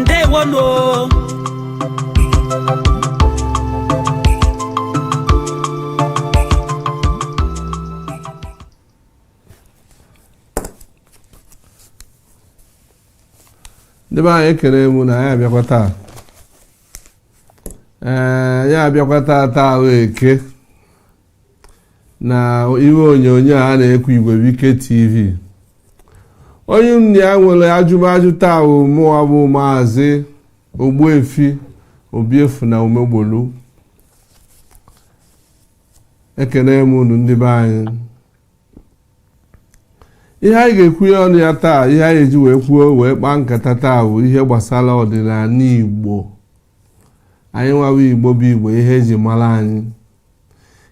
ndewonu ndị be anyị ekele m unu anyị abịakwa taa ee anyị abịakwa taa taa wụ eke na igwe onyonyo a na-ekwu Igwebuike TV onye na-ewere ajụmajụ taa bụ mụwa bụ maazị Ogbuefi Obiefuna Umegbolu ekene m unu ndị be anyị ihe anyị ga-ekwu ya ọnụ ya taa ihe anyị eji wee kwuo wee kpaa nkata taa bụ ihe gbasara ọdịnala Igbo anyịnwa wụ Igbo bụ Igbo ihe e ji mara anyị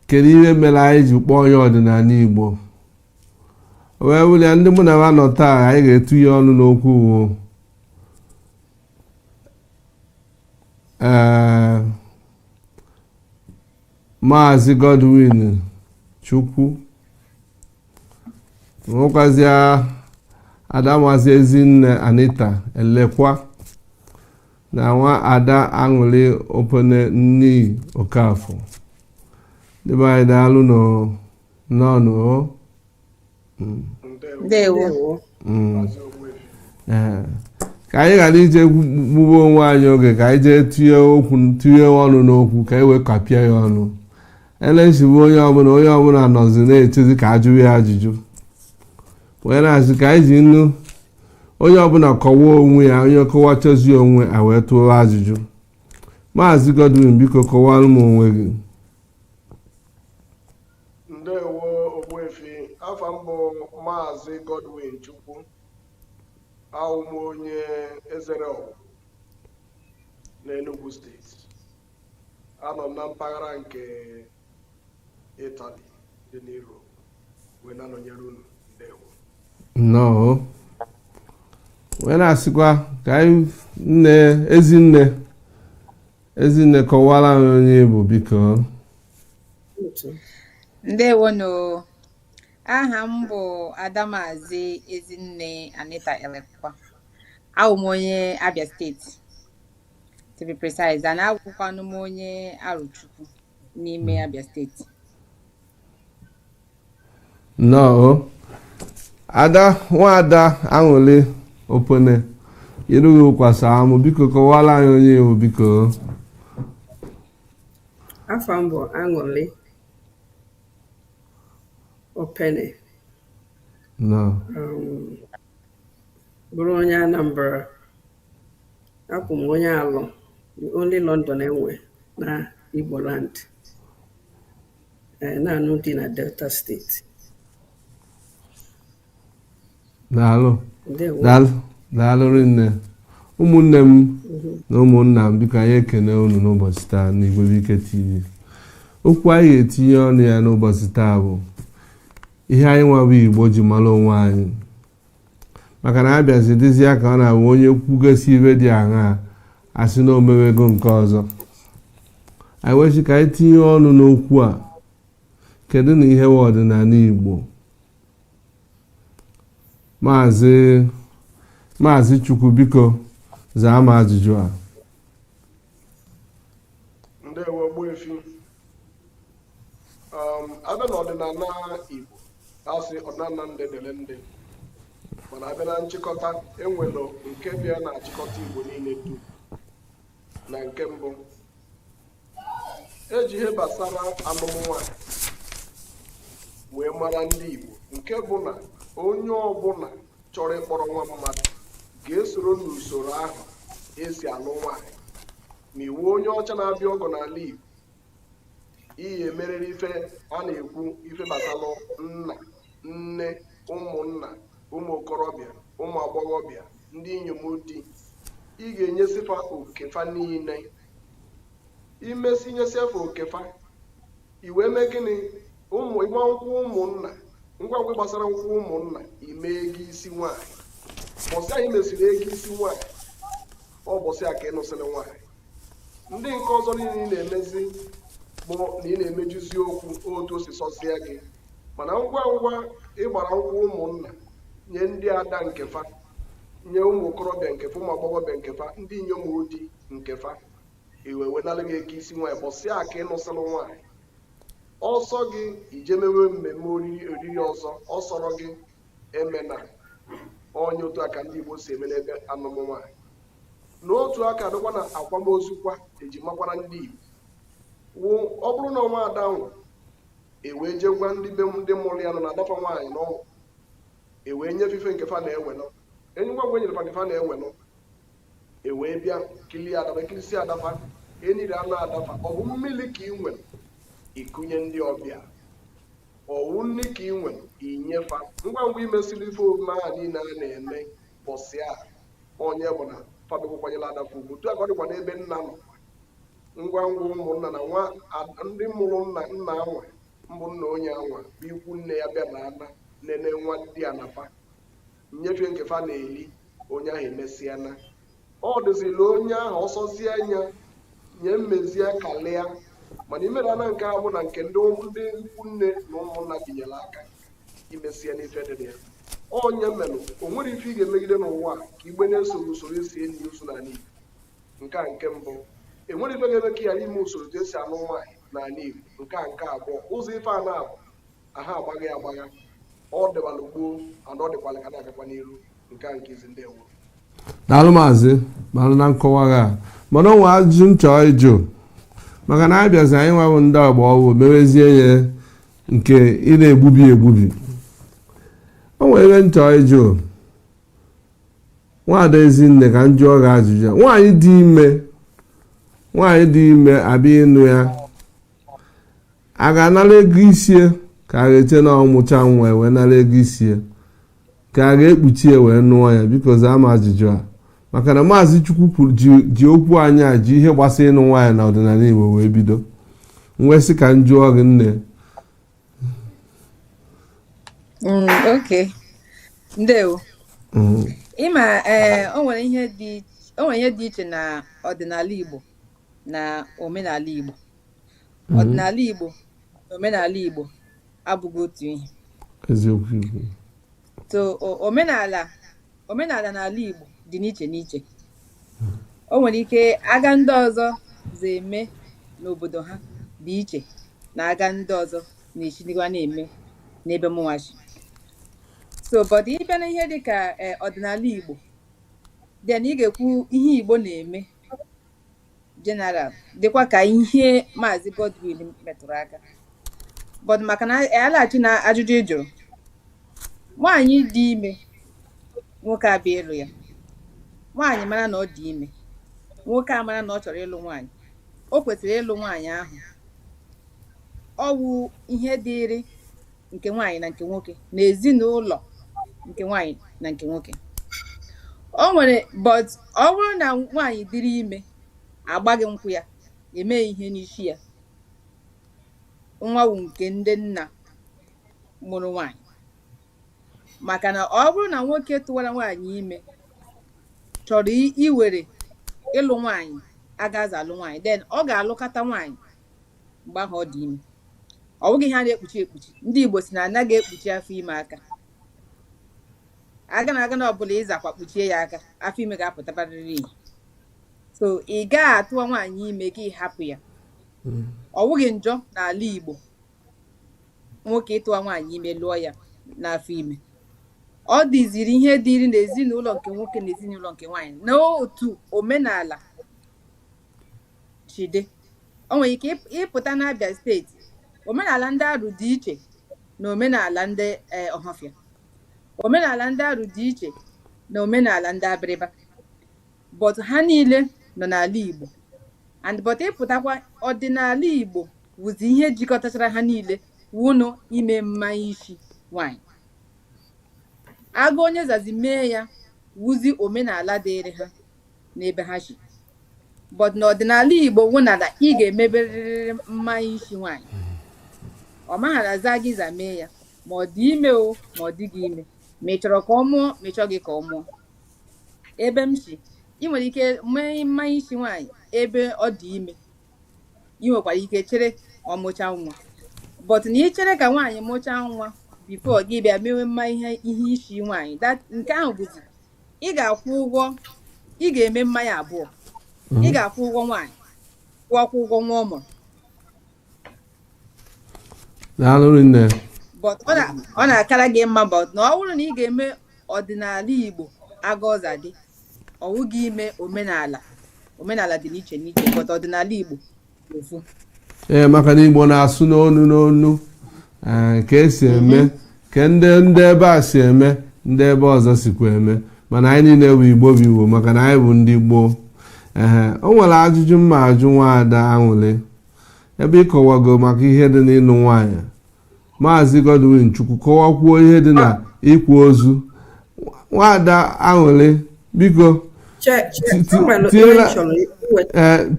kedu ihe mere anyị ji kpọọ ya ọdịnala Igbo wee wụrụ ya ndị mụ na ha nọ taa anyị ga-etinye ọnụ n'okwu wụ ee maazị Godwin Chukwu nwekwazịa Adamazi Ezinne Anita Elekwa na nwaada aṅụli opene nee okafọ ndị be anyị daalụ nụ nnọọ nụ o. Mm, ndewo mm. Ee. ka anyị ghara ije gbugbo onwe anyị oge ka anyị jee tinye okwu tinye ọnụ n'okwu ka anyị wee kapịa ya ọnụ elechigbu onye ọbụla onye ọbụla nọzi na-echezi ka a jụwa ya ajụjụ wee na-asị ka anyị ji nnu onye ọbụla kọwaa onwe ya onye kọwachazie onwe ya e wee tụwa ajụjụ maazị Godwin biko kọwara m onwe gị ndewo ogbuefi afa m bụ maazị Godwin Chukwu awụ m onye Ezere Awgu n'Enugu steeti anọ m na mpaghara nke Italy dị na Europe wee na-anọnyere unu ndewo nnọọ wee na-asịkwa ka anyị nne ezinne ezinne kọwara anyị onye ị bụ biko ndewonu aha m bụ adamazi ezinne anita elekwa awụ m onye abia steeti to be precise and awụkwanụ m onye Arochukwu n'ime Abia steeti nnọọ ada nwaada aṅụli opone irughị ụkwasa amụ biko kọwara anyị onye ị wụ biko afa m bụ aṅụli opene nnọọ um, bụrụ onye anambra Abụ m onye Alọ, the only London enwe na Igbo land, eh, na-anụ di na Delta steeti. Daalụ daalụ daalụ rinne ụmụnne m mhm. na ụmụnna m biko anyị ekene unu n'ụbọchị taa n'Igwe Ike TV okwu anyị ga-etinye ọnụ ya n'ụbọchị taa bụ ihe anyị nwa bụ Igbo ji mara onwe anyị maka na abịazi dịzi ya ka ọ na-abụ onye kwugasị ibe dị aṅa asị na o mewego nke ọzọ anyị wee sị ka anyị tinye ọnụ n'okwu a kedụnụ ihe wụ ọdịnala igbo maazị maazị chukwu biko zaa m ajụjụ a ndewo ogbuefi um, abịa na ọdịnala Igbo asị ọdịnala ndị dịrị ndị mana abịa na nchịkọta enwere nke bịa na-achịkọta Igbo niile dum na nke mbụ eji ihe gbasara alụm nwaanyị wee mara ndị Igbo nke bụ na onye ọbụla chọrọ ịkpọrọ nwa mmadụ ga-esoro n'usoro ahụ esi alụ nwaanyị ma ị wụ onye ọcha na-abịa ọgọ n'ala Igbo ihe emerere ife a na-ekwu ife gbasara nna nne ụmụnna ụmụ okorobịa ụmụ agbọghọbịa ndị inyom di ị ga-enyesị fa oke fa niile i mesị nyesịa fa oke fa i wee mee gịnị ụmụ ịgba nkwụ ụmụnna ngwa ngwa gbasara nkwụ ụmụnna ime ego isi nwaanyị bọsị ị mesịrị ego isi nwaanyị ọ bọsị a ka ị nụsịrị nwaanyị ndị nke ọzọ niile ị na-emezi bụ na ị na-emejuzi okwu otu o si sọsịa gị mana ngwa ngwa ị gbara nkwụ ụmụnna nye ndị ada nke fa nye ụmụ okorobịa nke fa ụmụ agbọghọbịa nke fa ndị inyom di nke fa e wee nalụ gị ego isi nwaanyị bọsị a ka ị nụsịlụ nwaanyị ọ sọ gị i je mewe mmemme oriri oriri ọzọ ọ sọrọ gị emena onye otu aka ndị Igbo si eme n'ebe anụmụ nwaanyị n'otu aka ọ dịkwa na akwamozu kwa eji makwara ndị Igbo wụ ọ bụrụ na ọ nwa ada nwụ ewee jee gwa ndị be ndị mụrụ ya nụ na ada fa nwaanyị n'ọnwụ ewee nye fa ife nke fa na-ewenụ enye ngwa ngwa e nyere fa nke fa na-ewenụ e wee bịa kilie ada fa e kirisịa ada fa eniri ana ada fa ọ bụ mmiri ka ị nwere ikunye ndị ọbịa ọ wụ nri ka ị nwere inye fa ngwa ngwa i mesịrị ife omume ahụ niile a na-eme bọsị a ọ nya bụ na fa akwanyela ada fa ugwu otu aka ọ dịkwa n'ebe nna nọ ngwa ngwa ụmụnna na nwa a- ndị mụrụ nna nna anwa mbụ nna onye anwa bụ ikwu nne ya bịara ana nene nwadiana fa nyefe nke fa na-eli onye ahụ emesịa na ọ dịzila onye ahụ ọsọzie anya nye mmezie kalịa mana imere na nke abụ na nke ndị ndị ikwu nne na ụmụnna binyere aka imesie n'ife dị ya onye mmenụ o nwere ife ị ga-emegide n'ụwa ka igbe na-esoro usoro e si eni ozu n'ala Igbo nke a nke mbụ e nwere ife ga-eme ka ya ime usoro ka e si anụ nwaanyị n'ala Igbo nke a nke abụọ ụzọ ife a naabọ aha agbaghị agbagha ọ dịwalụ gboo ana ọ dịkwala ka na-agakwa n'iru nke a nke izi ndeewo daalụ maazị malụ na nkọwa gị a mana o nwe ajụjụ m chọọ ịjụ maka na anyị bịazi anyịnwa bụ ndị agba ọfụụ mewezie ya nke ị na-egbubi egbubi o nwere ebe m chọọ ịjụ nwaada ezinne ka m jụọ gị ajụjụ ya. nwaanyị dị ime nwaanyị dị ime a bịa ịnụ ya a ga-anara ego isi ya ka a ga-eche na ọ mụcha nwa wee nara ego isi ya ka a ga-ekpuchi ya wee nụọ ya biko zaa m ajụjụ a maka na maazị chukwu kwuru ji okwu anyị a ji ihe gbasara ịnụ nwaanyị na ọdịnala igbo wee bido m wee sị ka m jụọ gị nne mm, okay ndewo mm. ị ma eh, o nwere ihe dị iche na ọdịnala igbo na omenala igbo mhm. ọdịnala Igbo na omenala Igbo abụghị otu ihe eziokwu Igbo so omenala omenala n'ala Igbo dị n'iche n'iche o nwere ike aga ndị ọzọ za eme n'obodo ha dị iche na aga ndị ọzọ na-eshi dịwa na-eme n'ebe mụwa shi so but ị bịa na ihe dịka eh, ọdịnala Igbo then ị ga-ekwu ihe Igbo na-eme general dịkwa ka ihe maazị Godwin metụrụ aka but maka na a laghachi na ajụjụ ị jụrụ nwaanyị dị ime nwoke abịa ịlụ ya nwaanyị mara na ọ dị ime nwoke a mara na ọ chọrọ ịlụ nwaanyị o kwesịrị ịlụ nwaanyị ahụ ọ wụ ihe dịịrị nke nwaanyị na nke nwoke na ezinụlọ nke nwaanyị na nke nwoke o nwere but ọ bụrụ na nwaanyị dịrị ime agbaghị nkwụ ya eme ihe n'isi ya nwa wụ nke ndị nna mụrụ nwaanyị maka na ọ bụrụ na nwoke tụwara nwaanyị ime chọrọ i- iwere ịlụ nwaanyị aga a za alụ nwaanyị then ọ ga-alụkọta nwaanyị mgbe ahụ ọ dị ime ọ bụghị ihe a na-ekpuchi ekpuchi ndị Igbo sị na anaghị ekpuchi afọ ime aka aga na aga na ọbụla ị zakwa kpuchie ya aka afọ ime ga-apụtabarịrị ihe so ị ga-atụwa nwaanyị ime gị ahapụ ya hmm. ọ bụghị njọ n'ala Igbo nwoke ịtụwa nwaanyị ime lụọ ya n'afọ ime ọ dịziri ihe dịrị n'ezinụlọ nke nwoke na ezinụlọ nke nwaanyị n'otu omenala si dị o nwere ike ịp- ị pụta n'Abia steeti omenala ndị arụ dị iche na omenala ndị eh, ọhafịa omenala ndị arụ dị iche na omenala ndị abịrịba but ha niile nọ n'ala igbo and but ị pụtakwa ọdịnala igbo wụzi ihe jikọtachara ha niile wụnụ ime mmanya isi nwanyị aga onye zazi mee ya wụzi omenala dịịrị ha n'ebe ha si but n'ọdịnala igbo wụ na na ị ga-emeberịrị mmanya isi nwaanyị ọ maghara za gị za mee ya ma ọ dị ime o ma ọ dịghị ime ma ị chọrọ ka ọ mụọ ma ị chọghị ka ọ mụọ ebe m si ị nwere ike mee mmanya isi nwaanyị ebe ọ dị ime ị nwekwara ike chere ọ mụchaa nwa but na ị chere ka nwaanyị mụchaa nwa bifo gị bịa mewe mma ihe ihe isi nwaanyị that nke ahụ bụzi ị ga-akwụ ụgwọ ị ga-eme mmanya abụọ ị ga-akwụ ụgwọ nwaanyị kwụọkwa ụgwọ nwa ọ mụrụ daalụ nne but ọ na- ọ na-akara gị mma but na ọ bụrụ na ị ga-eme ọdịnala igbo aga ọ za dị ọ wụghị ime omenala omenala dị n'iche n'iche but ọdịnala igbo ee maka na igbo na-asụ n'onu n'onu ee, ka esi eme ka ndị ndị ebe a si eme ndị ebe ọzọ sikwa eme mana anyị niile bụ igbo bụ igbo maka na anyị bụ ndị gboo ehe o nwere ajụjụ m ma-ajụ nwaada Aṅụlị ebe ị kọwago maka ihe dị n'ịlụ nwaanyị maazị Godwin Chukwu kọwakwuo ihe dị na ịkwa ozu nwaada Aṅụlị biko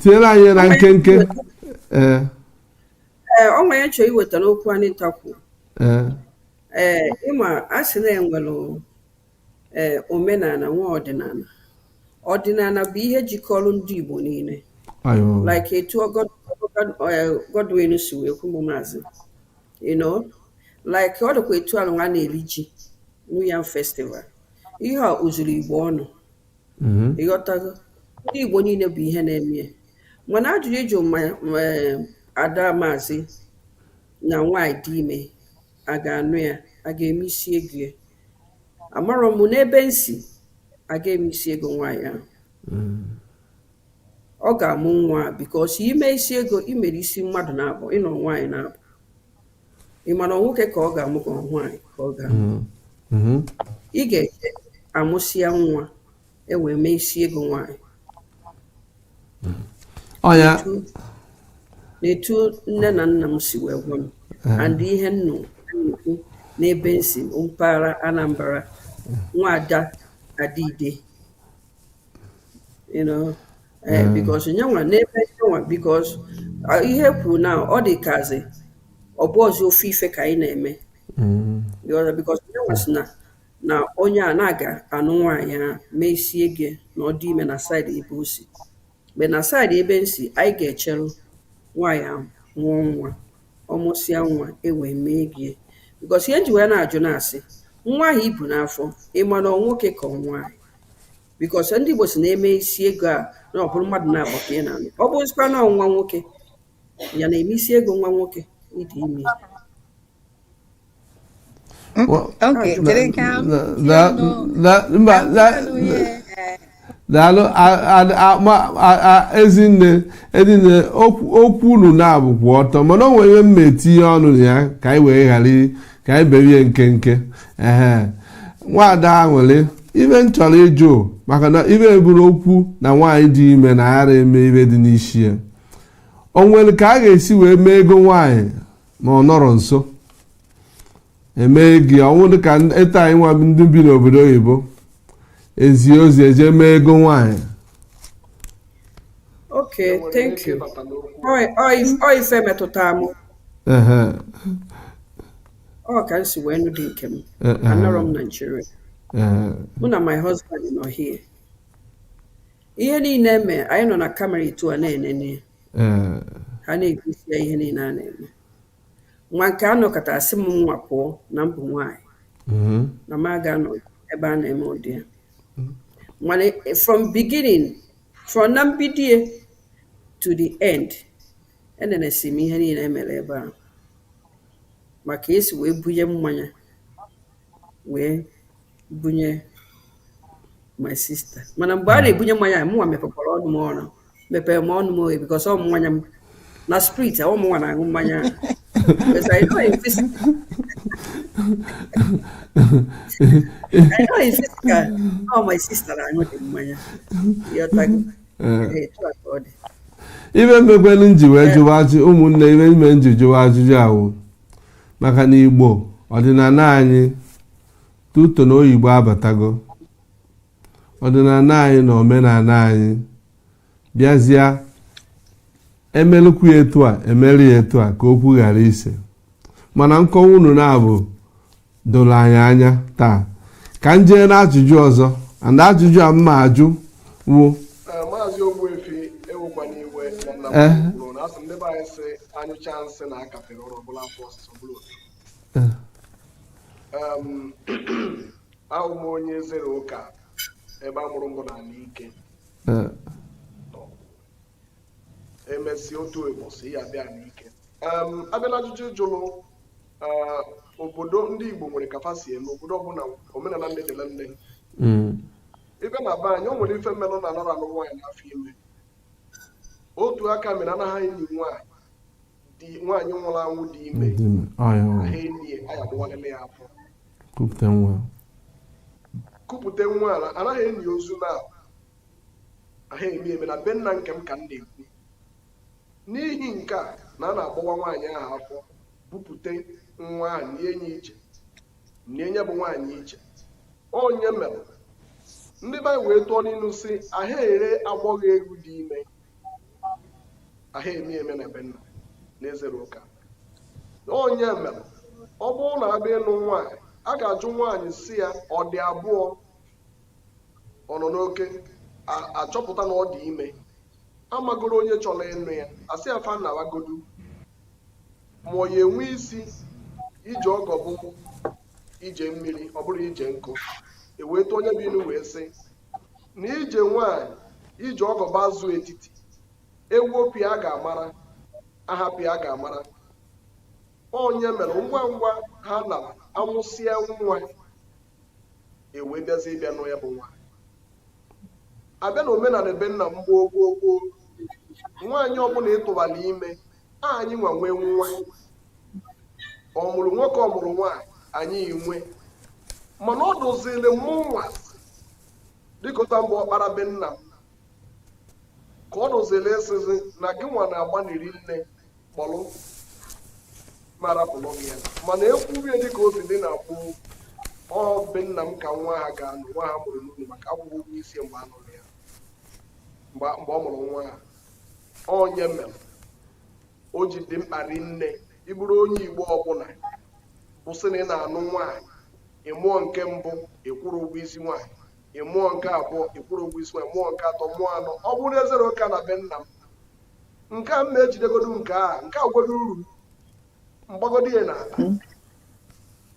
tinyela anyị na nkenke ee o nwere chọrọ iweta n'okwu anyị takwu ee ịma a sị na e nwere Ee, omenala nwee ọdịnala. Ọdịnala bụ ihe jikọrọ ndị Igbo niile. Like etu eh, Godwin si wee kwuo maazị. You know, like ọ dịkwa etu alụ nwa na-eri ji New Yam Festival. Ihe a o zuru Igbo ọnụ. Mm-hmm. Ịghọtago? Ndị Igbo niile bụ ihe na-eme ya. Mana ajụjụ ị jụ eh, ada maazị na nwaanyị dị ime a ga-anụ ya a ga-eme isi ego ya amarọ m n'ebe m si a ga-eme isi ego nwaanyị ahụ mm. ọ ga-amụ nwa because ime isi ego i mere isi mmadụ naabọ ịnụ nwaanyị naabọ ị ma na nwoke ka ọ ga-amụ ka nwaanyị ka ọ ga-amụ mm-hmm. Mm-hmm. ị ga-eche amụsịa nwa e wee mee isi ego nwaanyị ọ ya na etu nne na nna m si wee gwa m and ihe m nụ e kwu n'ebe m si mpaghara Anambra nwaada Adide you know eh, mm. because nyanwa n'ebe nyanwa because uh, ihe i kwuru na ọ dịkazi ọ bụzi ofu ife ka anyị na-eme mm. because nyanwa sị na na onye a na-aga anụ nwaanyị ahụ mee isi ego na ọ dị ime na side ebe o si but na side ebe m si anyị ga-echeru nwaanyị ahụ mụọ nwa ọ mụsịa nwa e wee mee ego because ihe m ji wee na-ajụ na a sị nwa ahụ i bu n'afọ ị ma na ọ nwoke ka ọ nwaanyị because ndị Igbo sị na e mee isi ego a na ọ bụrụ mmadụ naabọ ka ị na-anụ ọ bụzikwa na ọ nwa nwoke ya na-eme isi ego nwa nwoke ịdị ime daalụ ezinne ezinne okwu unu naabọ kwụ ọtọ mana o nwere ihe m na-etinye ọnụ na ya ka anyị wee ghara ka anyị berie nkenke ehe nwaada nwere ife m chọrọ ịjụ maka na ife e buru okwu na nwaanyị dị ime na anarọ eme ife dị n'isi ya o nwere ka a ga-esi wee mee ego nwaanyị na ọ nọrọ nso e mee ego ọ wụ dịka etu anyị nwa ndị bi n'obodo oyibo e zie ozi e je mee ego nwaanyị okay thank you ọ ife metụta m ọ ka m si wee nụ di nke m anọrọ m na Nigeria mụ na my husband nọ here ihe niile e me anyị nọ na camera etu a na-enene Ee, ha na-egosi ya ihe niile a na-eme nwa nke a nọkata a sị mụnwa pụọ na m bụ nwaanyị mhm, na m aga anọ ebe a na-eme ụdị ya mana eh, from beginning from na mbido ya to the end enenesị m ihe niile e mere ebe a ma ka e si wee bunye mmanya wee bunye my sister mana mgbe a hmm. na-ebunye mmanya mụnwa mepekwara ọnụ m oghe mepere m ọnụ m oghe because ọ mmanya m na spirit ọ mụnwa na-aṅụ mmanya my sister na-aṅụ dị mmanya eh. ife mekwelu m ji wee eh. jụwa ajụ ụmụnne ife me m ji jụwa ajụjụ a wụ maka na igbo ọdịnala anyị tuto na oyibo abatago ọdịnala anyị na omenala anyị bịazịa emelụkwu ya etu a emere ya etu a ka okwu ghara ise mana nkọwa unu naabọ doro anyị anya taa ka m jee n'ajụjụ ọzọ and ajụjụ a m ma ajụ wụ Eh, maazị ogbuefi ewekwana iwe na nna Eh. m kwuru na asị m ndị be anyị sị anyụcha nsị na akapịrị ụrọ bụla afọ ọsịsa bụrụ otu Um, awụ m onye ezere ụka ebe a mụrụ m bụ n'ala ike Eh, emesi otu ụbọchị ya bịa n'ike Em, abịala ajụjụ jụrụ eh, obodo ndị igbo nwere ka fa si eme obodo ọbụla omenala ndị dịrị ndị mm, ịbịa na be anyị o nwere ife melụ na anara alụ nwaanyị n'afọ ime otu aka mere anaghị eni nwaanyị di nwaanyị nwụrụ anwụ dị ime aha eni ya a ya-agbawalili ya afọ kupụta nwa kupụta nwa ala anaghị eni ozu na aha eme eme na be nna nke m ka m na-ekwu n'ihi nke a na a na-agbawa nwaanyị ahụ afọ bupụta nwa ahụ nie nya iche nie nya bụ nwaanyị iche ọ nya mere ndị be wee tụọ n'ilu sị aha ere agbọghọ ewu dị ime aha eme eme na be nna na ezere ụka ọ nya mere ọ bụrụ na abịa ịlụ nwaanyị a ga-ajụ nwaanyị sị ya ọ dị abụọ ọ nọ n'oke achọpụta na ọ dị ime amagoro onye chọrọ ịnụ ya asị ya fa nawagodu ma ọ ya enwe isi ije ọgọ bụ ije mmiri ọ bụrọ ije nkụ eweta onye bụ ilu wee sị na ije nwaanyị ije ọgọ bụ azụ etiti ewepụ ya a ga-amara ahapụ ya a ga-amara ọ nya mere ngwa ngwa ha na amụsịa nwa ewee bịazi ịbịa nụọ ya bụ nwaanyị abịa na omenala be nna m gboo gboo gboo nwaanyị ọbụla ị tụbalụ ime anyị nwa nwe nwa ọ mụrụ nwoke ọ mụrụ nwaanyị anyị nwe mana ọ dụziri mụ nwa dịkọta mgbe ọkpara be nna m ka ọ dụziri esizi na gị nwa na-agbaniri nne kpọrọ marapụrụ gị ya mana ekwuwe dịka o si dị na kwụ ọ be nna m ka nwa ahụ ga-anọ nwa a mụrụ n'ụlọ maka akwụrọ ụgwọ isi mgbe a nụrụ ya mgbe mgbe ọ mụrụ nwa ahụ ọ nya mere o ji dị mkpa rinne ịbụrụ onye igbo ọbụla kwụsị na ị na-anụ nwaanyị ịmụọ nke mbụ ịkwụrọ ụgwọ isi nwaanyị ịmụọ nke abụọ ịkwụrọ ụgwọ isi nwaanyị mụọ nke atọ mụọ anọ ọ bụrụ ezere ụka na be nna m nke a m na-ejidegodo nke a nke a gwedo uru mgbagodo ya na ala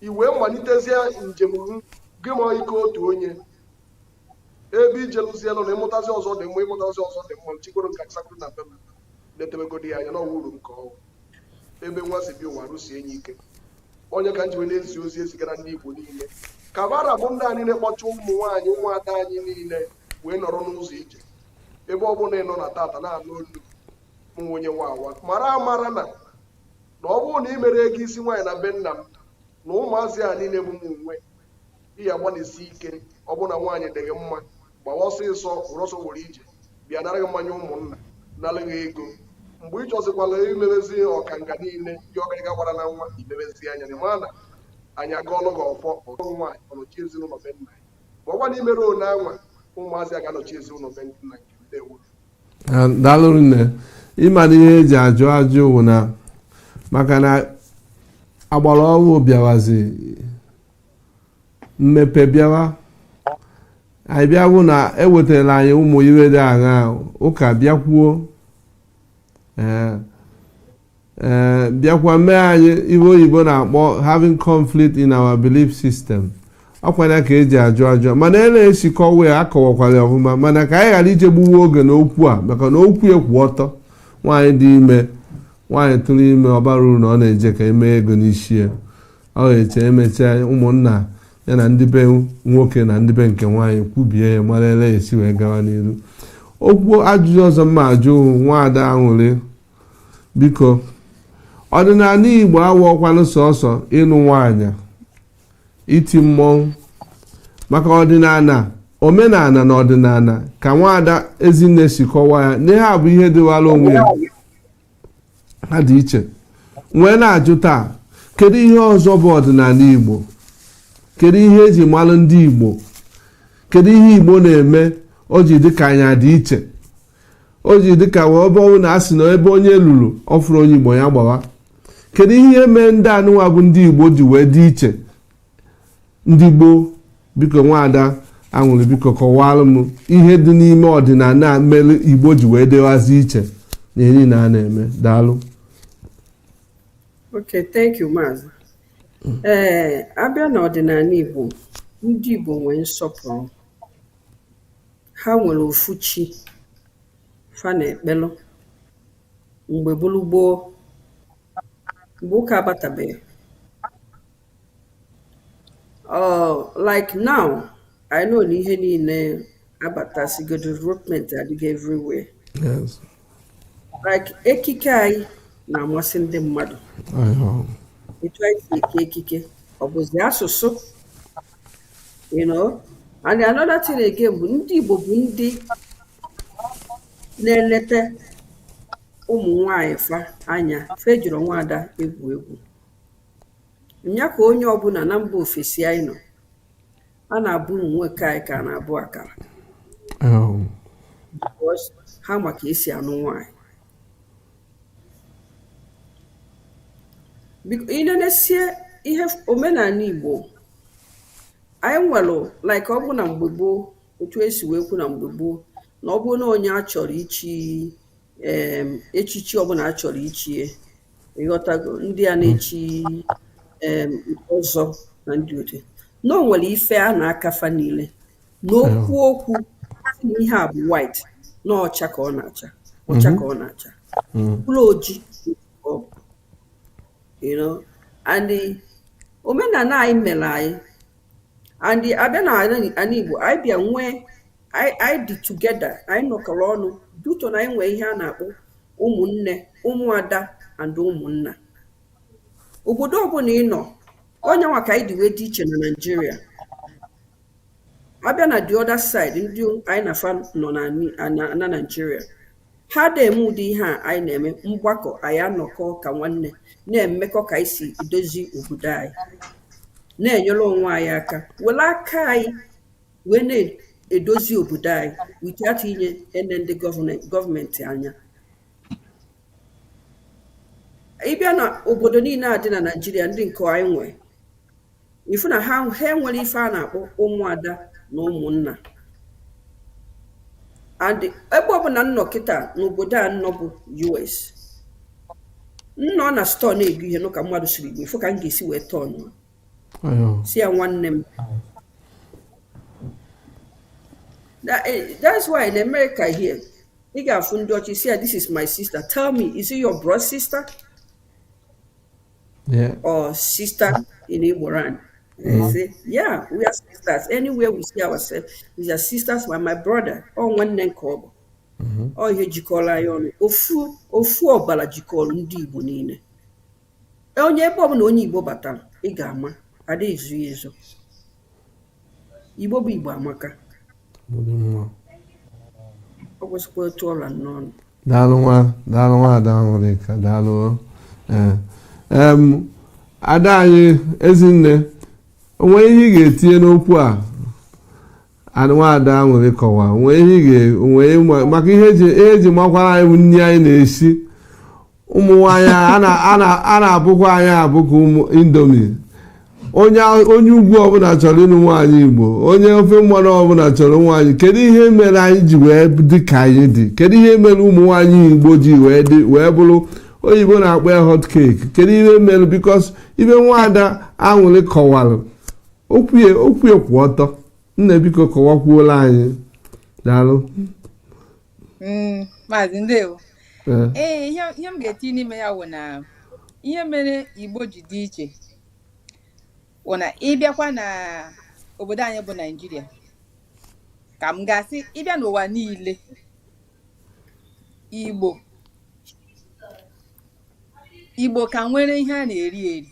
i wee malitezie njem gị ma ike otu onye ebe ijelụzie nọ na ịmụtazi ọzọ dị mma ịmụtazi ọzọ dị mma chikwere nka sakụrụ na be m na-etebegodi ya anya na ọwa uru m ka ọ ebe nwa si bi ụwa rụsi enyi ike ọ nya ka m ji wee na-ezi ozi ezigara ndị igbo niile ka bara bụ ndị anyị na-akpọcha ụmụ nwaanyị ụmụada anyị niile wee nọrọ n'ụzọ ije ebe ọ bụla ị nọ na tata na-anụ olu nwa onye nwa awa mara amara na na ọ bụrụ na ị mero ego isi nwaanyị na be nna m na ụmụazị a niile bụ m nwe di ya gbalịsi ike ọ bụrụ na nwaanyị dịghị mma gbawa ọsịsọ were ọsọ were ije bịa nara gị mmanya ụmụnna nara gị ego mgbe ị chọzikwala imebezi ọkanga niile gị ọgarịga gbara na nwa imebezi anya na ma na anyị agọọlụ gị ọfọ ọrụ nwaanyị ọnọchi ezinụlọ be nna anyị ma ọ kwa na imero one anwa ụmụazị a ga-anọchi ezinụlọ be nna nke ndewo Ah, daalụ nne ịma na ihe eji ajụ ajụ wụ na maka na agbara ọhụụ bịawazi mmepe bịawa anyị bịa bụ na ewetara anyị ụmụ ihe dị aṅa ụka bịakwuo ee ee bịakwa mee anyị ihe oyibo na-akpọ having conflict in our belief system ọkwa nya ka eji ajụ ajụ mana ele esi kọwa ya akọwakwara ya ọfụma mana ka anyị ghara ije gbuwe oge n'okwu a maka na okwu ya kwụ ọtọ nwaanyị dị ime nwaanyị tụrụ ime ọ barọ uru na ọ na-eje ka emee ego n'isi ya ọ ga-eche emechaa ụmụnna ya na ndị be nwoke na ndị be nke nwaanyị kwubie ya mara ele esi wee gawa n'iru okwu ajụjụ ọzọ m ma-ajụ nwaada aṅụrị biko ọdịnala igbo awọkwanụ sọsọ ịnụ nwaanyị iti mmọnwụ maka ọdịnala omenala na ọdịnala ka nwaada ezinne si kọwaa ya na ihe a bụ ihe dịwara onwe ya ha dị iche wee na-ajụ taa kedu ihe ọzọ bụ ọdịnala igbo kedu ihe eji malụ ndị igbo kedu ihe igbo na-eme o ji dị ka anyị dị iche o ji dị ka wee ebe ọ wụ na a sị na ebe onye lulu ọ fụrụ onye igbo ya gbawa kedu ihe mee ndị anụnwa bụ ndị igbo ji wee dị iche ndị gboo biko nwaada aṅụrị biko kọwaranụ ihe dị n'ime ọdịnala mere igbo ji wee dịwazi iche na ihe niile a na-eme daalụ Okay, thank you, Maazị. Ee, a bịa n'ọdịnala Igbo, ndị Igbo nwere nsọpụrụ. Ha nwere ofu chi fa na-ekpelụ mgbe gboo gboo, mgbe ụka abatabeghị. Oh, like now, I know na ihe niile abatasigo development adịgo everywhere. Yes. Like ekike anyị na-amasị ndị mmadụ. Etu anyị si eke ekike, ọ bụzi asụsụ. You know, and another thing again bụ ndị Igbo bụ ndị na-eneta ụmụ nwanyị fa anya fa ejirọ nwaada egwu egwu nya ka onye ọbụna na mba ofesi anyị nọ a na-abụ ụmụ nwoke anyị ka a na-abụ akara oh. ha ma ka e si anụ nwanyị i nenesie ihe omenala igbo anyị nwere like ọ bụ na mgbe gboo otu e si wee kwu na mgbe gboo na ọ bụrụ na onye a chọrọ ichi echichi ọbụla a chọrọ ichie ị ghọtago ndị a na-echi ọzọ na ndị ode na o nwere ife a na-aka fa niile n'ụkwụ ụkwụ ihe a bụ white na ọcha ka ọ na-acha ọcha ka ọ na-acha ọ bụrọ oji and omenala anyị mere anyị and a bịa na anị Igbo anyị bịa nwee anyị dị together anyị nọkọrọ ọnụ due to na anyị nwee ihe a na-akpọ ụmụnne ụmụada and ụmụnna obodo ọbụla ị nọ ọ nya nwa ka anyị ji wee dị iche na Naịjirịa a bịa na the other side ndị anyị na fa nọ na Naịjirịa Ha ada eme ụdị ihe a anyị na-eme mgbakọ anyị anọkọ ka nwanne na-emekọ ka anyị si edozi obodo anyị na-enyere onwe anyị aka were aka anyị wee na-edozi obodo anyị without ịna-ene ndị gọọmenti anya ị bịa na obodo niile a dị na naijiria ndị nke anyị nwee ị fụ na ha nwere ife a na-akpọ ụmụada na ụmụnna and ebe ọbụla m nọ kịta n'obodo a m nọ bụ US m nọ na stọọ na-ego ihe nụ ka mmadụ sụrụ Igbo ị fụ ka m ga-esi wee turn sị ya nwanne m That- eh, that's why in America here ị ga-afụ ndị ọcha ị sị ya this is my sister tell me is it your blood sister yeah. or sister in Igboland they mm. say, yeah, we are sisters. Anywhere we see ourselves, we are sisters with my brother. Ọ nwanne nke ọ bụ. Mm-hmm. Ọ ọ ihe jikọlụ anyị ọnụ. Ofu, ofu ọbala jikọlụ ndị Igbo niile. Onye ebe ọbụla onye Igbo batara, ị ga-ama. Adị ezo ha ezo. Igbo bụ Igbo amaka. Ọ kwesịkwa otu ọla n'ọnụ. Daalụ nwa daalụ nwaada aṅụrịka daalụ eh, ada anyị ezinne o nwe ihe ị ga-etinye n'okwu a nwaada aṅụrị kọwa o nwe ihe maka ihe eji makwara anyị bụ nri anyị na-esi ụmụ nwaanyị a a na- a na- a na-abụkwa anyị abụkwa ụmụ indomie onye a- onye ugwu ọbụla chọrọ ịnụ nwaanyị igbo onye ofe mmanụ ọbụla chọrọ nwaanyị kedu ihe mere anyị ji wee dị ka anyị dị kedu ihe mere ụmụ nwaanyị igbo ji wee dị wee bụrụ oyibo na-akpọ ya hot cake kedu ihe mere because ebe nwaada aṅụrị kọwara o kwue okwu kwụ ọtọ nne biko kọwakwuolu anyị daalụ Mm, maazị ndewo Ee. ee ihe ihe m ga-etinye n'ime ya wụ na ihe mere igbo ji dị iche wụ na ị bịakwa na obodo anyị bụ naijiria ka m ga-asị ị bịa n'ụwa niile igbo igbo ka nwere ihe a na-eri eri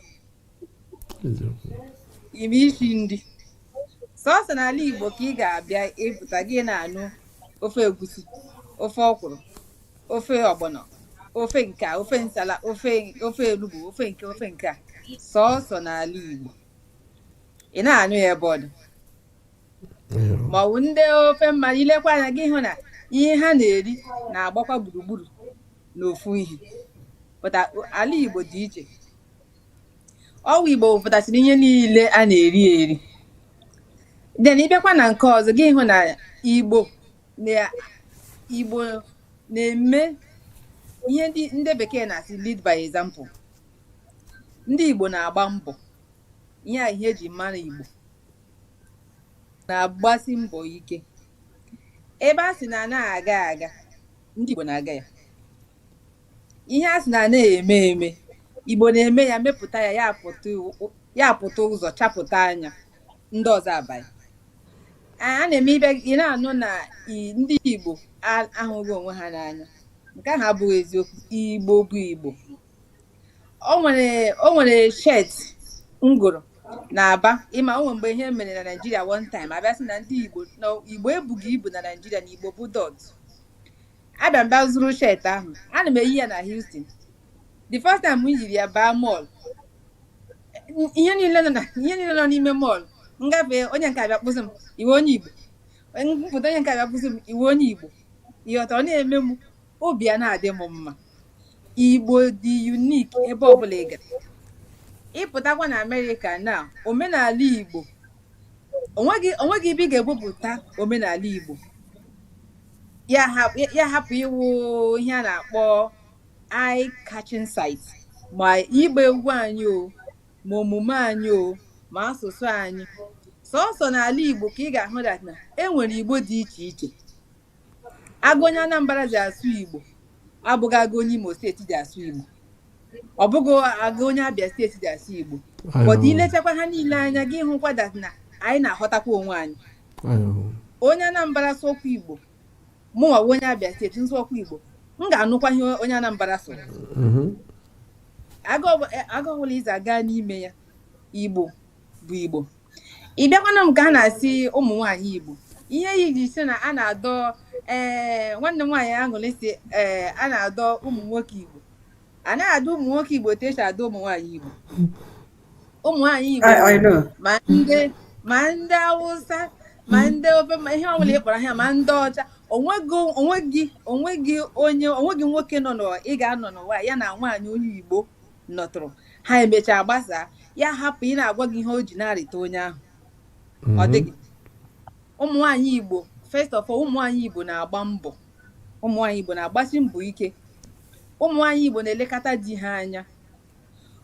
ime isi nri sọsọ n'ala Igbo ka ị ga-abịa ị pụta gị na-anụ ofe egusi ofe ọkwụrụ ofe ọgbọnọ ofe nke a ofe nsala ofe ofe elugbo ofe nke ofe nke a sọsọ n'ala Igbo ị na-anụ ya ebe ọ dị maọbụ ndị ofe mmanụ i lekwa anya gị hụ na ihe ha na-eri na-agbakwa gburugburu n'ofu ihe pụta ala Igbo dị iche ọ wụ igbo wepụtasịrị ihe niile a na-eri eri then ị bịakwa na nke ọzọ gị hụ na igbo na igbo na-eme ihe ndị ndị bekee na-asị lead by example ndị igbo na-agba mbọ ihe a ihe eji mara igbo na-agbasi mbọ ike ebe a sị na anaghị aga aga ndị igbo na-aga ya ihe a sị na anaghị eme eme igbo na-eme ya mepụta ya ya pụta iwu- ya pụta ụzọ chapụta anya ndị ọzọ abanye a a na-eme ebe ị na-anụ na i- ndị igbo a- ahụghị onwe ha n'anya nke ahụ abụghị eziokwu igbo bụ igbo o nwere o nwere shirt m gụrụ na aba ị ma o nwere mgbe ihe mere na naijiria one time a bịa sị na ndị igbo na igbo ebughị ibu na naijiria na igbo bụ dot abịa m bịa zụrụ shirt ahụ ana m eyi ya na Houston the first time m yiri ya baa mall ihe niile nọ na- ihe niile nọ n'ime mall m gafee onye nke a bịa kpọ sị m ị wụ onye Igbo m pụta onye nke a bịa kpọ sị m ị wụ onye Igbo ịghọta ọ na-eme m obi a na-adị m mma Igbo dị unique ebe ọbụla ị gara ịpụtakwa na Amerịka na omenala Igbo onweghị onweghị ibe ị ga-ebupụta omenala Igbo ya hap- ya- ya hapụ ịwụ ihe a na-akpọ eye catching sight ma ịgba egwu anyị o ma omume anyị o ma asụsụ anyị sọsọ n'ala Igbo ka ị ga-ahụ that na e nwere Igbo dị iche iche aga onye Anambra ji asụ Igbo abụghị aga onye Imo State ji asụ Igbo ọ bụghị aga onye Abia State ji asụ Igbo but ilechakwa ha niile anya gị hụkwa that na anyị na-aghọtakwa onwe anyị onye Anambra sụ okwu Igbo mụnwa onye Abia State m sụ okwu Igbo m ga-anụkwa ihe onye Anambra sụ mm-hmm. aga ọbụla i si aga n'ime ya Igbo bụ Igbo ị bịakwanụ nke a na-asị ụmụ nwaanyị Igbo ihe e ji sị na a na-adọ ee eh, nwanne m nwaanyị Aṅụrị sị ee eh, a na-adọ ụmụ nwoke Igbo a na-adọ ụmụ nwoke Igbo otu e si adọ ụmụ nwaanyị Igbo ụmụ nwaanyị Igbo ma ndị ma ndị Awụsa ma ndị ofe ihe ọbụla ị kpọrọ ha ma ndị ọcha onweghị onweghị onye onweghị nwoke nọ n'ụwa ị ga-anọ n'ụwa ya na nwaanyị onye Igbo nọtụrụ ha emechaa gbasaa ya hapụ ị na-agwa gị ihe o ji na-arịta onye ahụ ọ mhm. dịghị ụmụ nwaanyị Igbo first of all ụmụ nwaanyị Igbo na-agba mbọ ụmụ nwaanyị Igbo na-agbasi mbọ ike ụmụ nwaanyị Igbo na-elekọta di ha anya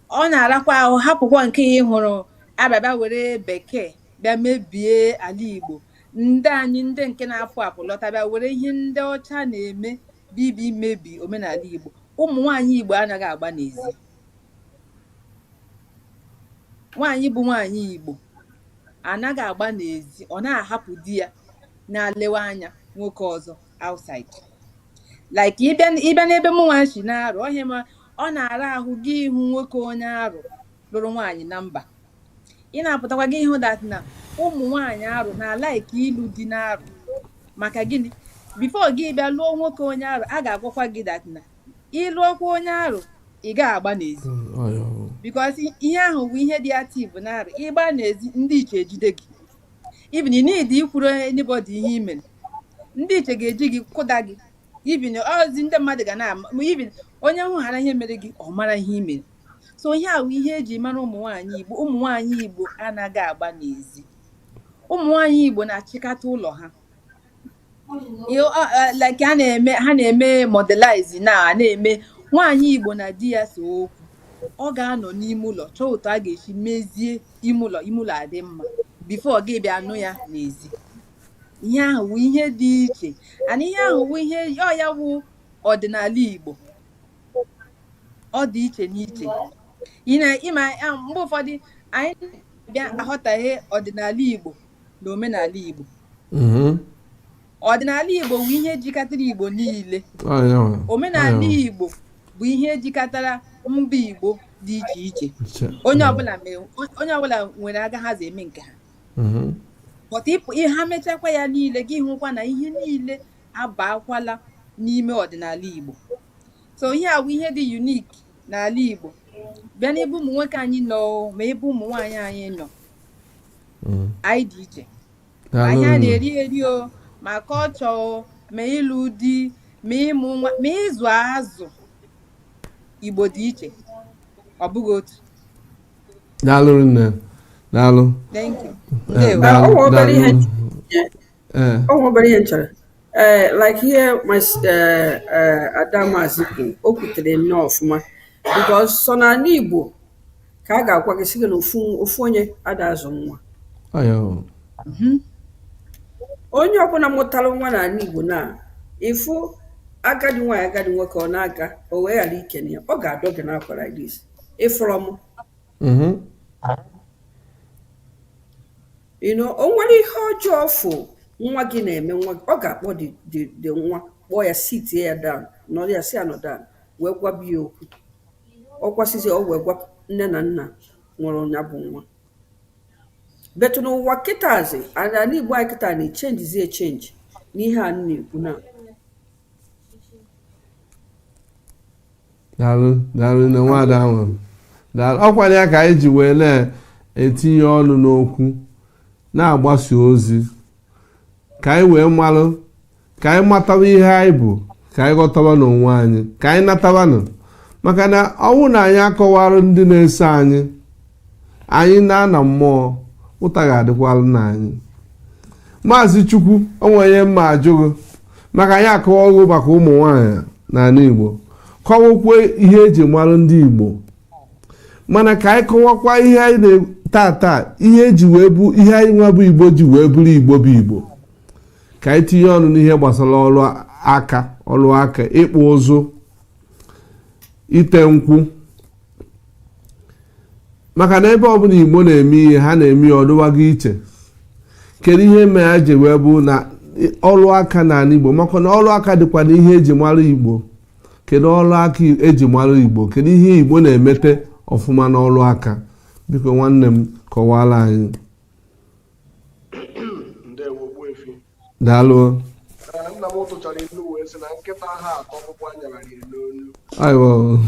ọ na-arakwa ahụ hapụkwa nke ya ịhụrụ a bịa bịa were bekee bịa mebie ala Igbo ndị anyị ndị nke na-apụ apụ lọta bịa were ihe ndị ọcha na-eme bibi imebi omenala Igbo ụmụ nwaanyị Igbo anaghị agba n'ezi nwaanyị bụ nwaanyị Igbo anaghị agba n'ezi ọ na-ahapụ di ya na-alewe anya nwoke ọzọ outside like ịbịa n'ebe mụnwa si n'Arụ ọhịa ma ọ na-ara ahụ gị ịhụ nwoke onye Arụ lụrụ nwaanyị na mba ị na-apụtakwa gị ịhụ that na ụmụ nwaanyị Arụ na-like ịlụ di n'Arụ maka gịnị before gị bịa lụọ nwoke onye Arụ a ga-agwakwa gị that na ị lụọkwa onye Arụ ị ga-agba n'ezi because ihe ahụ bụ ihe dị active n'Arụ ịgba n'ezi ndị iche ejide gị even need ikwuru anybody ihe i mere ndị iche ga-eji gị kụda gị even ozi ndị mmadụ ga na-ama even onye hụchara ihe mere gị ọ mara ihe i mere so ihe ahụ wụ ihe eji mara ụmụ nwaanyị Igbo ụmụ nwaanyị Igbo anaghị agba n'ezi ụmụ nwaanyị Igbo na-achịkata ụlọ ha like ha na-eme ha na-eme modelize na a na-eme nwaanyị Igbo na di ya see okwu ọ ga-anọ n'ime ụlọ chọọ otu a ga-esi mezie ime ụlọ ime ụlọ adị mma before a ga-abịa anụ ya n'ezi ihe ahụ wụ ihe dị iche and ihe ahụ wụ ihe ọ ya wụ ọdịnala Igbo ọ dị iche n'iche ị ma mgbe ụfọdụ anyị bịa aghọtahie ọdịnala Igbo na omenala Igbo mm-hmm. ọdịnala Igbo bụ ihe jikọtara Igbo niile omenala Igbo bụ ihe jikọtara mba Igbo dị iche iche onye ọbụla nwere aga ha si eme nke ha mm-hmm. but if ha mechakwa ya niile gị ahụkwa na ihe niile abaakwala n'ime ọdịnala Igbo so ihe a wụ ihe dị unique n'ala Igbo bịa n'ebe ụmụ nwoke anyị nọ ma ebe ụmụ nwaanyị anyị nọ mm. anyị dị iche ma n'ihe a na-eri eri o ma culture o ma ịlụ di ma ịmụ nwa ma ịzụ azụ Igbo dị iche ọ bụghị otu daalụ nne daalụ eh, daalụ eh. o nwe obere ihe m chọrọ ee eh, like ihe eh, Ada Mazi kwuru o kwutere nnọọ ọfụma because sọ na ana igbo ka a ga-agwa gị sị gị na ofu onye ada azụ nwa mhm. onye ọbụna mụtara nwa n'ana igbo na ị fụ agadi nwaanyị agadi nwoke ọ na-aga o wee ghara ikene ya ọ ga-adọ gị n'akwa like this ị fụrọ m Mm-hmm. you know o nwere ihe ọjọọ ọ fụ nwa gị na-eme nwa gị ọ ga-akpọ the nwa kpọọ ya sit ya down nọrọ ya sị ya nọ down wee gwaba ya okwu ọ gwasịzi o wee gwa nne na nna nwere nya bụ nwa but n'ụwa kịtazi ana igbo anyị kịta na-echenjizi echenji n'ihe a na-ekwu na daalụ daalụ nne nwaada ahụ daalụ ọ kwanụ ya ka anyị ji wee na-etinye ọnụ n'okwu na-agbasa ozi ka anyị wee malụ ka anyị mataba ihe anyị bụ ka anyị ghọtabanụ onwe anyị ka anyị natabanụ maka na ọ wụ na anyị akọwara ndị na-eso anyị anyị naa na mmụọ ụta ga-adịkwalụnụ anyị maazị chukwu o nwe ihe m ma ajụ gị maka anyị akọwago maka ụmụ nwaanyị n'ala igbo kọwakwa ihe eji mara ndị igbo mana ka anyị kọwakwa ihe anyị na-tata ihe eji wee bụ ihe anyị nwa bụ igbo ji wee bụrụ igbo bụ igbo ka anyị tinye ọnụ n'ihe gbasara ọrụ aka ọrụ aka ịkpụ ụzụ ite nkwụ maka na ebe ọbụla igbo na-eme ihe ha na-eme ya ọ dịwaga iche kedu ihe mere ha ji wee bụ na ọrụ aka n'ala igbo maka na ọrụ aka dịkwa na ihe eji mara igbo kedu ọrụ aka eji mara igbo kedu ihe igbo na-emete ọfụma n'ọrụ aka biko nwanne m kọwara anyị daalụ nna m tụchara ilu wee sị na nkịta aha ata ọkpụkpụ a nyara ya n'olu ayo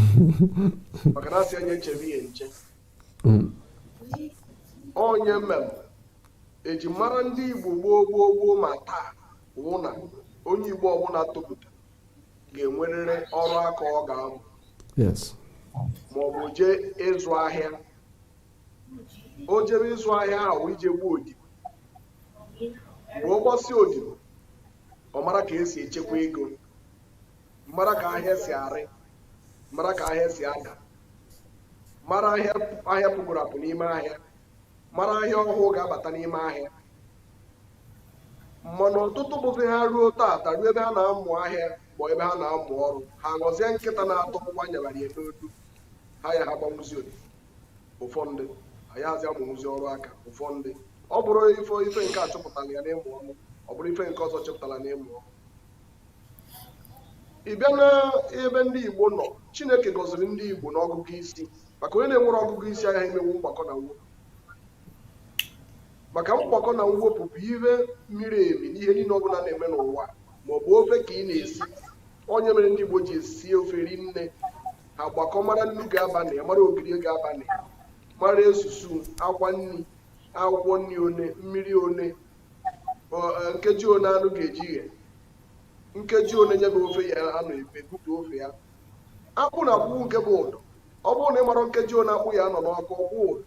maka na a sị nya chebe ya nche Mm. ọ nya mere eji mara ndị igbo gboo gboo gboo ma taa wụ na onye igbo ọbụla topụta ga-enwerịrị ọrụ aka ọ ga-amụ yes maọbụ jee ịzụ ahịa o jebe ịzụ ahịa ahụ ije gbaa odibo mgbe ọ gbasị odibo ọ mara ka esi echekwa ego mara ka ahịa si arị mara ka ahịa si ada mara ahịa ahịa pụgoro apụ n'ime ahịa mara ahịa ọhụụ ga-abata n'ime ahịa mana ọtụtụ bụzi ha ruo taata ruo ebe ha na-amụ ahịa ma ebe ha na-amụ ọrụ ha ghọzie nkịta na-ata ọkpụkpụ a nyabara ya n'olu ha ya ha agbanwuzi odibo ụfọdụ anazị amụnwuzi ọrụ aka ụfọdụ ọ bụrụ ife ife nke a chụpụtara ya n'ịmụ ọrụ ọ bụrụ ife nke ọzọ chụpụtara n'ịmụ ọrụ ị bịa n'ebe ndị Igbo nọ Chineke gọziri ndị Igbo n'ọgụgụ isi maka onye na-enwerọ ọgụgụ isi agaghị emenwu mgbakọ na mwepụ maka mgbakọ na mwepụ bụ ihe miri emi n'ihe niile ọ bụla a na-eme n'ụwa ma ọ bụ ofe ka ị na-esi ọ nya mere ndị Igbo ji esi ofe rinne agbakọ mara nnu ga-aba na ya mara ogiri ga-aba na ya mara esusu akwa nri akwụkwọ nri one mmiri one ọ- eh, nkeji one anụ ga-eji eghe nkeji one nya bụ ofe ya-anọ e wee butu ofe ya akpụ na akwụkwụ nke bụ ụdọ ọ bụrụ na ị mara nkeji one akpụ ya-anọ n'ọkụ ọ kwụọ ụdọ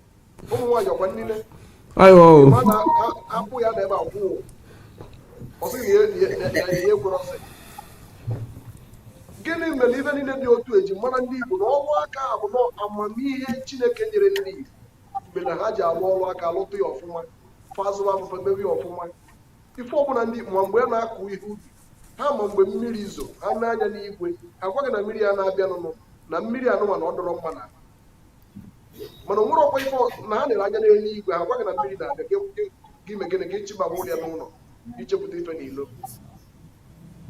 ụmụ nwaanyị ọkwa nile ayo mana akwụ ya na ebe akwụ ọ bụghị ihe kwere ọsị gịnị mere ife niile dị otu eji mara ndị Igbo na ọrụ aka bụ na amamihe Chineke nyere ndị Igbo mere na ha ji arụ ọrụ aka lụta ya ọfụma fazụrụ abụba mewe ya ọfụma ife ọbụla ndị ma mgbe na-akụ ihe ubi ha ma mgbe mmiri zo ha nee anya n'igwe ha gwa gị na mmiri a na-abịa nụnụ na mmiri a nụnwa na ọ dịrọ mma na mana o nwere ọkwa ife na ha nere anya n'elu igwe ha gwa gị na mmiri na-abịa gị me gịnị ka ị chịbaa ụlọ ya n'ụlọ ị chịpụta ife n'ilo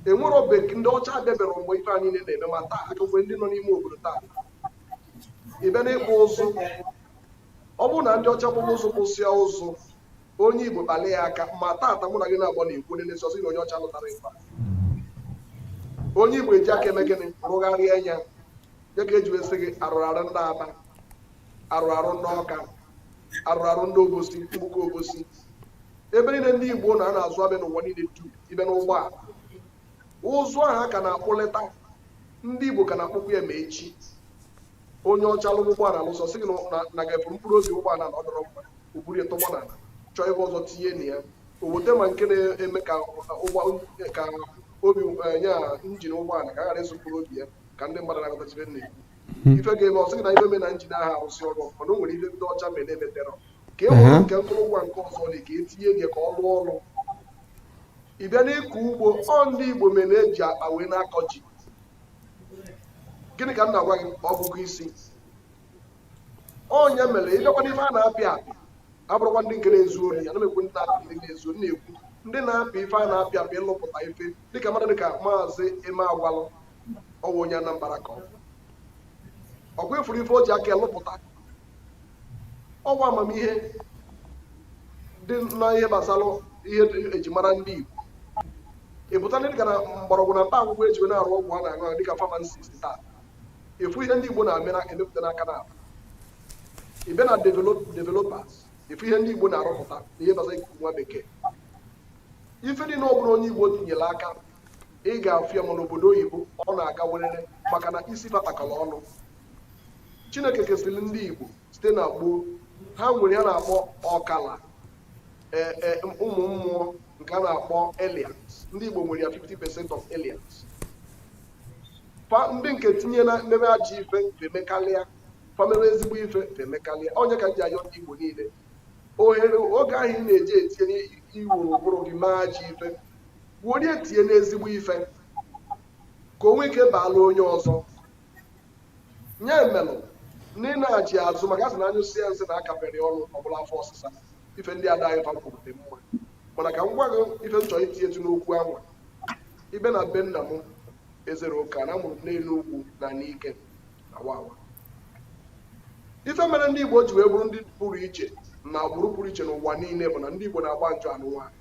e nwere oge ndị ọcha abịabịara mgbe ife anyị niile na-eme ma taa a ka nwe ndị nọ n'ime obodo taa ị bịa n'ịkpụ ụzụ ọ bụrụ na ndị ọcha kpụrụ ụzụ kpụsịa ụzụ onye igbo kpalị ya aka ma taata mụ na gị na-akpa na-ekwu onye na-esi ọsị na onye ọcha lụtara ife onye igbo eji aka eme gịnị rụgharịa ya ya ka e ji wee sị gị arụrụ arụ ndị aba arụrụ arụ ndị ọka arụrụ arụ ndị obosi mgbuka obosi ebe niile ndị igbo nọ a na-azụ ahịa n'ụwa niile du ibe n'ụgbọala ụzụ ahụ a ka na-akpụlịta ndị igbo ka na-akpụkwa ya ma echi onye ọcha lụrụ ụgbọala lụsịa sị gị na na ga-ebu mkpụrụ obi ụgbọala na ọ dịrọ mma o buru ya tọgbọ n'ala chọọ ebe ọzọ tinye na ya o weta ma nke na-eme ka ụgbọ ka obi eh, ya engine ụgbọala ka a ghara ịzụ mkpụrụ obi ya ka ndị mmadụ na-aghọtachibe nne ife ga-eme ọ sị na ife me na engine ahụ arụzi ọrụ ọfụma na o nwere ife ndị ọcha mere emepere ka e nwere nke akụrụngwa nke ọzọ dị ka etinye nye ka ọ rụọ ọrụ ị bịa n'ịkọ ugbo ọ ndị igbo mere e ji akpa wee na-akọ ji gịnị ka m na-agwa gị ọgụgụ isi onye mere ị bịakwa na ife a na-apịa apị abụrọkwa ndị nke na-ezu ori ya na-ekwu ndị na-apị ndị na-ezu na-ekwu ndị na-apị ife a na-apịa apị ịlụpụta ife dịka mmadụ dịka maazị emeagwali ọ wụ onye Anambra ka ọ bụ ọkwa ị fụrụ ife o ji aka lụpụta ọ wụ amamihe dị na ihe gbasara ihe ejimara ndị Igbo ị pụta ndị dịka na mgbọrọgwụ na mkpa akwụkwọ e ji wee na-arụ ọgwụ a na-aṅụ aṅụ dịka pharmacist taa ị fụ ihe ndị Igbo na-eme na-emepụta n'aka na ibe na developers ị fụ ihe ndị Igbo na-arụpụta na ihe gbasara ikuku nwa bekee ife dị na ọ bụla onye Igbo tinyere aka ị ga-afụ ya ma n'obodo oyibo ọ na-aga werere maka na isi batakọrọ ọnụ chineke kesiri ndị igbo site na gboo ha nwere ihe a na-akpọ ọkala e, e, ụmụ mmụọ nke a na-akpọ aliens ndị igbo nwere ya 50% of aliens ndị nke tinye na mmebe ajọ ife fa emekarịa fa mebe ezigbo ife fa emekarịa ọ nya ka m ji ayọ ndị igbo niile ohere oge ahụ ị na-eji etinye i were ụbụrụ gị mee ajọ ife were ya tinye n'ezigbo ife ka o nwee ike baala onye ọzọ nya melụ na ị na-achị azụ maka a sị na a nyụsịa nsị na akapịrọ ọnụ ọ bụrụ afọ ọsịsa ife ndị ada anyị fa kwuru dị mma mana ka m gwa gị ife m chọrọ itinyetụ n'okwu anwa ibe na be nna m ezere ụka na a mụrụ m n'enugwu na nike na wawa ife mere ndị igbo ji wee bụrụ ndị pụrụ iche na agbụrụ pụrụ iche n'ụwa niile bụ na ndị igbo na-agba njụ anụ nwaanyị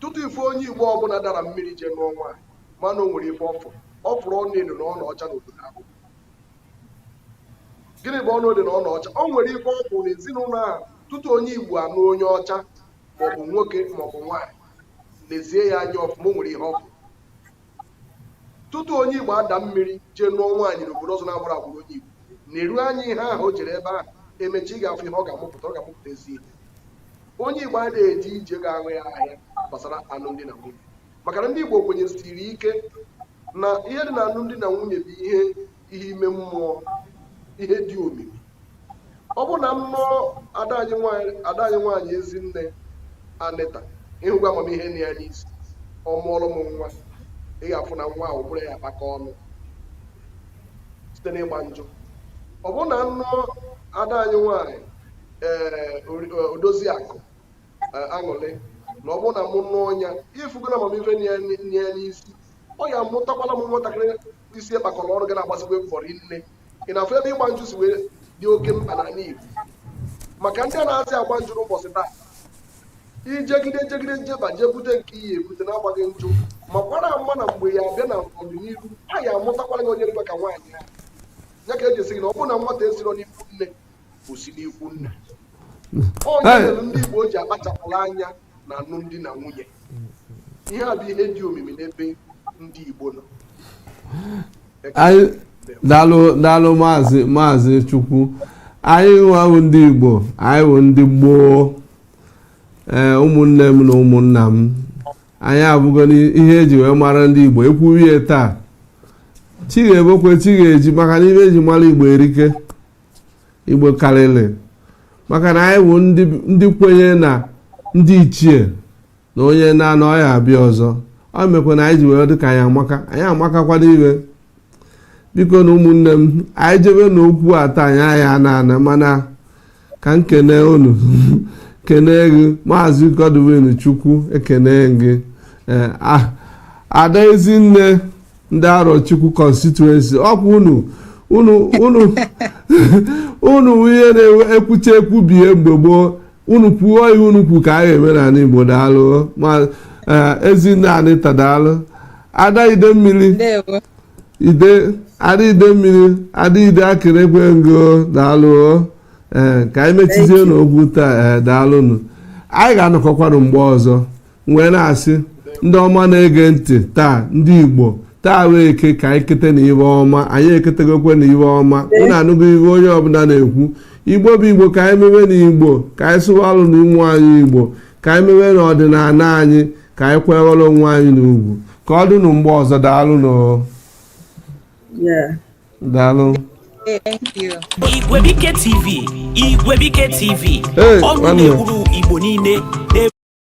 tutu ị fụ onye igbo ọbụla dara mmiri jee nụọ nwaanyị ma na o nwere ife ọ fụrụ ọ fụrụ ọna edo na ọna ọcha n'obodo ahụ gịnị bụ ọna edo na ọna ọcha o nwere ife ọ fụrụ na ezinụlọ ahụ tutu onye igbo anụ onye ọcha maọbụ nwoke maọbụ nwaanyị lezie ya anya ọfụma o nwere ihe ọ fụrụ tutu onye Igbo ada mmiri jee nụọ nwaanyị n'obodo ọzọ na-abụrọ agbụrụ onye Igbo neruo anya ihe ahụ o jere ebe ahụ emechaa ị ga-afụ ihe ọ ga-amụpụta ọ ga-amụpụta ezi ihe onye Igbo adịghị eji ije ga-aṅụ ya ahịa gbasara alụmdi na nwunye maka na ndị Igbo kwenyesiri ike na ihe dị na alụmdi na nwunye bụ ihe ihe ime mmụọ ihe dị omimi ọ bụrụ na m nụọ ada anyị nwanyị ada anyị nwanyị ezinne anita ịhụgo amamihe na ya n'isi ọ mụọrọ m nwa ị ga-afụ na nwa ahụ ụbụrụ ya akpakọ ọnụ site n'ịgba njụ ọ bụrụ na m nụọ ada anyị nwanyị ee odozi akụ aṅụlị na ọ bụrụ na mụ nụọ ya ịfụgo na amamihe na ya na ya n'isi ọ ya-amụtakwala m nwatakịrị isi ya kpakọrọ ọnụ ga na-agbasikwa mbọ rinne ị na-afụ ebe ịgba njụ si wee dị oke mkpa n'ala Igbo maka ndị anazị agba njụ n'ụbọchị taa ijegide jegide jeba jee bute nke ị ya-ebute na-agbaghị njụ makwara ama na mgbe ya abịa na ọdịnihu a ya-amụtakwara gị onye dịkwa ka nwaanyị ya ya ka eji asị gị na ọ bụrụ na nwata esiro n'ikwu nne o si n'ikwu nna ọ ya mere ndị Igbo ji akpachapụrụ anya na alụmdi na nwunye ihe a bụ ihe dị omimi n'ebe ndị Igbo nọ daalụ daalụ maazị maazị Chukwu anyị nwa wụ ndị Igbo anyị wụ ndị gboo ee ụmụnne m na ụmụnna m anyị afụgo na ihe eji wee mara ndị Igbo ekwuwe ya taa chi ga-ebokwe chi ga-eji maka na ihe eji mara Igbo erike igbo karịrị maka na anyị wụ ndị- ndị kwenye na ndị ichie na onye naa ụnọ ọ ya-abịa ọzọ ọ mekwa na anyị ji were dịka anyị amaka anyị amakakwana iwe bikonụ ụmụnne m anyị jebe na okwu a taa anyị ya-ana ana mana ka m kene unu kene gị maazị godwin chukwu ekene gị ee a- ada ezinne ndị arọchukwu constituency ọkwa unu unu unu unu ihe na-ekwucha ekwubie mgbe gboo unu kwuo ihe unu kwu ka a ga-eme n'ala igbo daalụ ma ezinne anita daalụ ada idemmili ndewo ide ada idemmili ada ide akịrịkwe ngo daalụ ee ka anyị mechizie n'okwu taa ee daalụnụ anyị ga-anọkọkwanụ mgbe ọzọ wee na-asị ndị ọma na-ege ntị taa ndị igbo taa wee eke ka anyị kete na ibe ọma anyị eketegokwe na ibe ọma unu anụgo ihe onye ọbụla na-ekwu igbo bụ igbo ka anyị mewe na igbo ka anyị sụwalụnụ ụmụ anyị igbo ka anyị mewe na ọdịnala anyị ka anyị kwanyere onwe anyị ugwu ka ọ dịnụ mgbe ọzọ daalụ nụ Yeah. daalụ Thank you. Igwebuike TV, Igwebuike TV, Hey, ọnụ nwanne. na-ekwuru Igbo niile